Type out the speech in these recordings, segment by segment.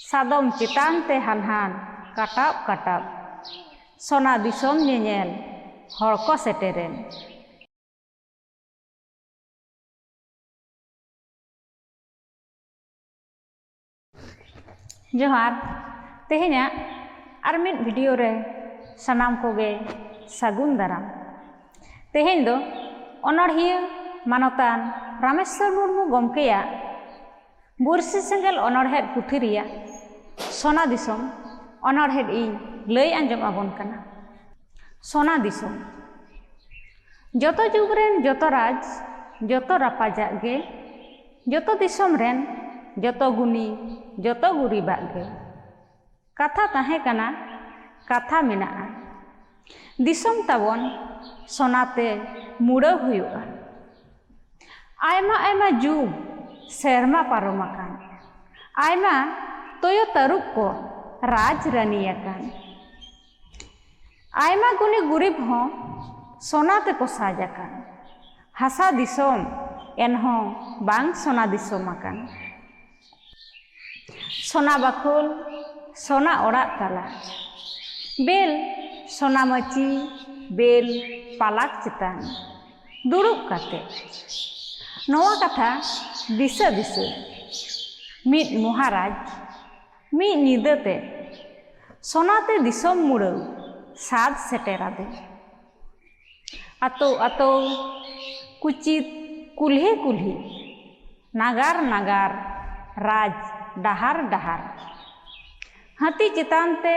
ᱥᱟᱫᱚᱢ ᱪᱮᱛᱟᱱ ᱛᱮ ᱦᱟᱱᱦᱟᱱ ᱠᱟᱴᱟᱵ ᱠᱟᱴᱟᱵ᱾ ᱥᱚᱱᱟ ᱫᱤᱥᱚᱢ ᱧᱮᱧᱮᱞ ᱦᱚᱲ ᱠᱚ ᱥᱮᱴᱮᱨᱮᱱ᱾ ᱡᱚᱦᱟᱨ ᱛᱮᱦᱮᱧᱟᱜ ᱟᱨ ᱢᱤᱫ ᱵᱷᱤᱰᱤᱭᱳ ᱨᱮ ᱥᱟᱱᱟᱢ ᱠᱚᱜᱮ ᱥᱟᱹᱜᱩᱱ ᱫᱟᱨᱟᱢ᱾ ᱛᱮᱦᱮᱧ ᱫᱚ ᱚᱱᱚᱬᱦᱤᱭᱟᱹ ᱢᱟᱱᱚᱛᱟᱱ ᱨᱟᱢᱮᱥᱥᱚᱨ ᱢᱩᱨᱢᱩ ᱜᱚᱢᱠᱮᱭᱟᱜ ᱵᱩᱨᱥᱤ ᱥᱮᱸᱜᱮᱞ ᱚᱱᱚᱬᱦᱮᱫ ᱯᱩᱛᱷᱤ ᱨᱮᱭᱟᱜ ᱥᱚᱱᱟ ᱫᱤᱥᱚᱢ ᱚᱱᱚᱬᱦᱮᱫ ᱤᱧ ᱞᱟᱹᱭ ᱟᱸᱡᱚᱢ ᱟᱵᱚᱱ ᱠᱟᱱᱟ ᱥᱚᱱᱟ ᱫᱤᱥᱚᱢ ᱡᱚᱛᱚ ᱡᱩᱜᱽ ᱨᱮᱱ ᱡᱚᱛᱚ ᱨᱟᱡᱽ ᱡᱚᱛᱚ ᱨᱟᱯᱟᱡᱟᱜ ᱜᱮ ᱡᱚᱛᱚ ᱫᱤᱥᱚᱢ ᱨᱮᱱ ᱡᱚᱛᱚ ᱜᱩᱱᱤ ᱡᱚᱛᱚ ᱜᱩᱨᱤᱵᱟᱜ ᱜᱮ ᱠᱟᱛᱷᱟ ᱛᱟᱦᱮᱸ ᱠᱟᱱᱟ ᱠᱟᱛᱷᱟ ᱢᱮᱱᱟᱜᱼᱟ ᱫᱤᱥᱚᱢ ᱛᱟᱵᱚᱱ ᱥᱚᱱᱟ ᱛᱮ ᱢᱩᱲᱟᱹᱣ ᱦᱩᱭᱩᱜᱼᱟ ᱟᱭᱢᱟ ᱟᱭᱢᱟ ᱡᱩᱜᱽ ᱥᱮᱨᱢᱟ ᱯᱟᱨᱚᱢ ᱟᱠᱟᱱ ᱟᱭᱢᱟ ᱛᱚᱭᱚ ᱛᱟᱹᱨᱩᱵ ᱠᱚ ᱨᱟᱡᱽ ᱨᱟᱹᱱᱤ ᱟᱠᱟᱱ ᱟᱭᱢᱟ ᱜᱩᱱᱤ ᱜᱩᱨᱤᱵ ᱦᱚᱸ ᱥᱚᱱᱟ ᱛᱮᱠᱚ ᱥᱟᱡᱽ ᱟᱠᱟᱱ ᱦᱟᱥᱟ ᱫᱤᱥᱚᱢ ᱮᱱᱦᱚᱸ ᱵᱟᱝ ᱥᱚᱱᱟ ᱫᱤᱥᱚᱢ ᱟᱠᱟᱱ ᱥᱚᱱᱟ ᱵᱟᱠᱷᱳᱞ ᱥᱚᱱᱟ ᱚᱲᱟᱜ ᱛᱟᱞᱟ ᱵᱮᱞ ᱥᱚᱱᱟ ᱢᱟᱹᱪᱤ ᱵᱮᱞ ᱯᱟᱞᱟᱠ ᱪᱮᱛᱟᱱ ᱫᱩᱲᱩᱵ ᱠᱟᱛᱮ ᱱᱚᱣᱟ ᱠᱟᱛᱷᱟ ᱫᱤᱥᱟᱹ ᱫᱤᱥᱟᱹ ᱢᱤᱫ ᱢᱚᱦᱟᱨᱟᱡᱽ ᱢᱤᱫ ᱧᱤᱫᱟᱹ ᱛᱮ ᱥᱚᱱᱟᱛᱮ ᱫᱤᱥᱚᱢ ᱢᱩᱲᱟᱹᱣ ᱥᱟᱫ ᱥᱮᱴᱮᱨᱟᱫᱮ ᱟᱛᱳ ᱟᱛᱳ ᱠᱩᱪᱤᱛ ᱠᱩᱞᱦᱤ ᱠᱩᱞᱦᱤ ᱱᱟᱜᱟᱨ ᱱᱟᱜᱟᱨ ᱨᱟᱡᱽ ᱰᱟᱦᱟᱨ ᱰᱟᱦᱟᱨ ᱦᱟᱹᱛᱤ ᱪᱮᱛᱟᱱ ᱛᱮ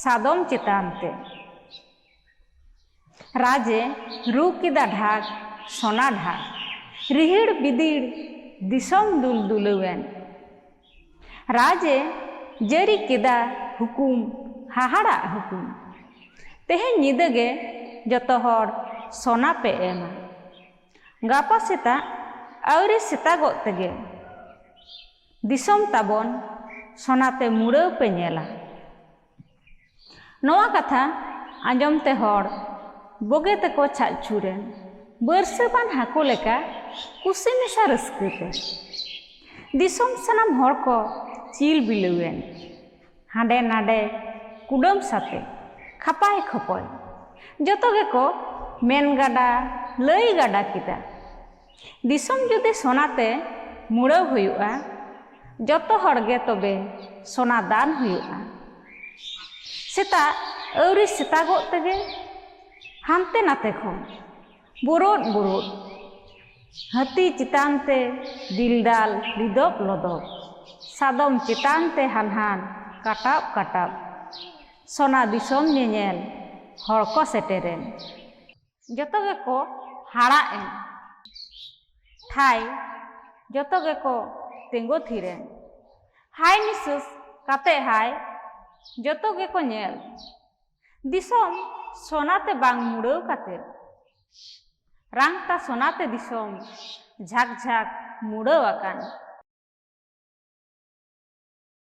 ᱥᱟᱫᱚᱢ ᱪᱮᱛᱟᱱ ᱛᱮ ᱨᱟᱡᱮ ᱨᱩ ᱠᱮᱫᱟ ᱰᱷᱟᱠ ᱥᱚᱱᱟ ᱰᱷᱟᱠ ᱨᱤᱦᱤᱲ ᱵᱤᱫᱤᱲ ᱫᱤᱥᱚᱢ ᱫᱩᱞ ᱫᱩᱞᱟᱹᱣᱮᱱ ᱨᱟᱡᱽ ᱮ ᱡᱟᱹᱨᱤ ᱠᱮᱫᱟ ᱦᱩᱠᱩᱢ ᱦᱟᱦᱟᱲᱟᱜ ᱦᱩᱠᱩᱢ ᱛᱮᱦᱮᱧ ᱧᱤᱫᱟᱹ ᱜᱮ ᱡᱚᱛᱚ ᱦᱚᱲ ᱥᱚᱱᱟ ᱯᱮ ᱮᱢᱟ ᱜᱟᱯᱟ ᱥᱮᱛᱟᱜ ᱟᱹᱣᱨᱤ ᱥᱮᱛᱟᱜᱚᱜ ᱛᱮᱜᱮ ᱫᱤᱥᱚᱢ ᱛᱟᱵᱚᱱ ᱥᱚᱱᱟ ᱛᱮ ᱢᱩᱲᱟᱹᱣ ᱯᱮ ᱧᱮᱞᱟ ᱱᱚᱣᱟ ᱠᱟᱛᱷᱟ ᱟᱸᱡᱚᱢ ᱛᱮ ᱦᱚᱲ ᱵᱚᱜᱮ ᱛᱮᱠᱚ ᱪᱷᱟᱜ ᱪᱷᱩᱨᱮᱱ ᱵᱟᱹᱨᱥᱟᱹ ᱵᱟᱱ ᱦᱟᱹᱠᱩ ᱞᱮᱠᱟ ᱠᱩᱥᱤ ᱢᱮᱥᱟ ᱨᱟᱹᱥᱠᱟᱹ ᱛᱮ ᱫᱤᱥᱚᱢ ᱥᱟᱱᱟᱢ ᱦᱚᱲ ᱠᱚ ᱪᱤᱞ ᱵᱤᱞᱟᱹᱣᱮᱱ ᱦᱟᱸᱰᱮ ᱱᱟᱰᱮ ᱠᱩᱰᱟᱹᱢ ᱥᱟᱛᱮ ᱠᱷᱟᱯᱟᱭ ᱠᱷᱚᱯᱚᱭ ᱡᱚᱛᱚ ᱜᱮᱠᱚ ᱢᱮᱱ ᱜᱟᱰᱟ ᱞᱟᱹᱭ ᱜᱟᱰᱟ ᱠᱮᱫᱟ ᱫᱤᱥᱚᱢ ᱡᱩᱫᱤ ᱥᱚᱱᱟ ᱛᱮ ᱢᱩᱲᱟᱹᱣ ᱦᱩᱭᱩᱜᱼᱟ ᱡᱚᱛᱚ ᱦᱚᱲ ᱜᱮ ᱛᱚᱵᱮ ᱥᱚᱱᱟ ᱫᱟᱱ ᱦᱩᱭᱩᱜᱼᱟ ᱥᱮᱛᱟᱜ ᱟᱹᱣᱨᱤ ᱥᱮᱛᱟᱜᱚᱜ ᱛᱮᱜᱮ ᱦᱟᱱᱛᱮ ᱱᱟᱛᱮ ᱠᱷᱚᱱ ᱵᱩᱨᱩᱫ ᱵᱩᱨᱩᱫ ᱦᱟᱹᱛᱤ ᱪᱮᱛᱟᱱ ᱛᱮ ᱫᱤᱞᱫᱟᱞ ᱞᱤᱫᱚᱵ ᱞᱚᱫᱚᱵ ᱥᱟᱫᱚᱢ ᱪᱮᱛᱟᱱ ᱛᱮ ᱦᱟᱱᱦᱟᱱ ᱠᱟᱴᱟᱵ ᱠᱟᱴᱟᱵ ᱥᱚᱱᱟ ᱫᱤᱥᱚᱢ ᱧᱮᱧᱮᱞ ᱦᱚᱲ ᱠᱚ ᱥᱮᱴᱮᱨᱮᱱ ᱡᱚᱛᱚ ᱜᱮᱠᱚ ᱦᱟᱲᱟᱜ ᱮᱱ ᱴᱷᱟᱭ ᱡᱚᱛᱚ ᱜᱮᱠᱚ ᱛᱤᱸᱜᱩ ᱛᱷᱤᱨ ᱮᱱ ᱦᱟᱭ ᱱᱤᱥᱟᱹᱥ ᱠᱟᱛᱮ ᱦᱟᱭ ᱡᱚᱛᱚ ᱜᱮᱠᱚ ᱧᱮᱞ ᱫᱤᱥᱚᱢ ᱥᱚᱱᱟᱛᱮ ᱵᱟᱝ ᱢᱩᱲᱟᱹᱣ ᱠᱟᱛᱮ ᱨᱟᱝᱛᱟ ᱥᱚᱱᱟᱛᱮ ᱫᱤᱥᱚᱢ ᱡᱷᱟᱠ ᱡᱷᱟᱠ ᱢᱩᱲᱟᱹᱣ ᱟᱠᱟᱱ